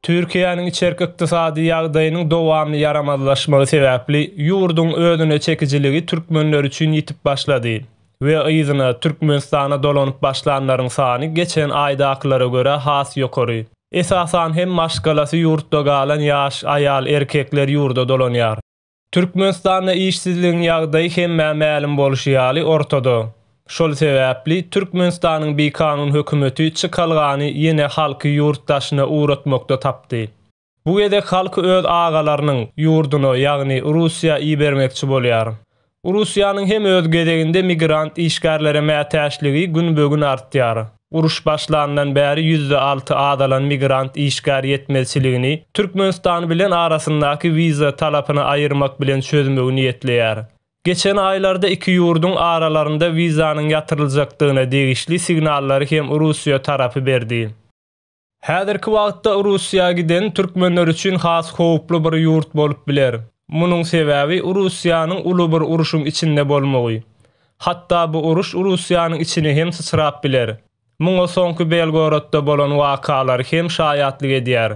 Türkiýäniň içerki ykdysady ýagdaýynyň dowamly ýaramazlaşmagy sebäpli ýurduň özüne çekijiligi türkmenler üçin ýitip başlady we yzyna, Türkmenistana dolanyp başlanlaryň sany geçen aýdakylara görä has ýokary. Esasan hem maşgalasy ýurtda galan ýaş aýal-erkekler ýurda dolanýar. Türkmenistanda işsizligiň ýagdaýy hemmä mälim bolşy ýaly ortada. Şol sebäpli Türkmenistanyň bikanun hökümeti çykalgany ýene halky ýurt daşyna ugratmakda tapdy. Bu gezek halky öz agalarynyň ýurduna, ýagny Russiýa ibermekçi bolýar. Russiýanyň hem öz gezeginde migrant işgärlere mätäçligi günbe-gün artýar. Uruş başlandan bäri ýüzde alty azalan migrant işgär ýetmezçiligini Türkmenistan bilen arasyndaky wiza talapyny aýyrmak bilen çözmegi niýetleýär. Geçen aýlarda iki ýurduň aralarynda wizanyň ýatyryljakdygyna degişli signallary hem Russiýa tarapy berdi. Häzirki wagtda Russiýa giden türkmenler üçin has howply bir ýurt bolup biler. Munuň sebäbi Russiýanyň uly bir uruşyň içinde bolmagy. Hatda bu uruş Russiýanyň içine hem syçrap biler. Muňa soňky Belgorodda bolan wakalar hem şaýatlyk edýär.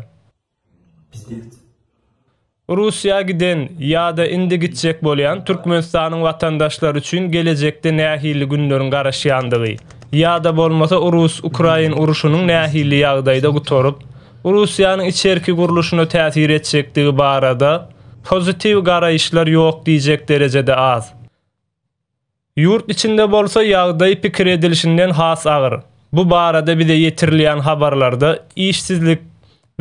Russiýa giden ýa-da indi gitjek bolýan Türkmenistanyň watandaşlary üçin gelejekde nähili günleriň garaşýandygy, ýa-da bolmasa rus-ukrain urşunyň nähili ýagdaýda gutaryp, Russiýanyň içerki gurluşyna täsir etjekdigi barada pozitiw garaýyşlar ýok diýjek derejede az. Ýurt içinde bolsa ýagdaý pikir edilişinden has agyr. Bu barada bize ýetirilýän habarlarda işsizlik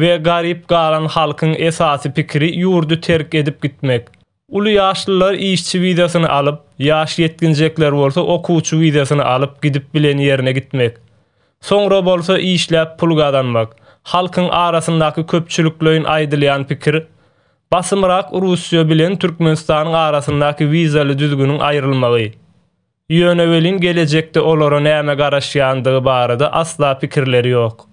we garyp galan halkyň esasy pikiri ýurdy terk edip gitmek. Uly ýaşlylar işçi wizasyny alyp, ýaş ýetginjekler bolsa okuwçy wizasyny alyp gidip bilen ýerine gitmek. Soňra bolsa işläp pul gazanmak. Halkyň arasyndaky köpçülikleýin aýdylýan pikir Basymrak Russiýa bilen Türkmenistanyň arasyndaky wizaly düzgüniň aýrylmagy. Ýöne welin gelejekde olara näme garaşýandygy barada asla pikirleri ýok.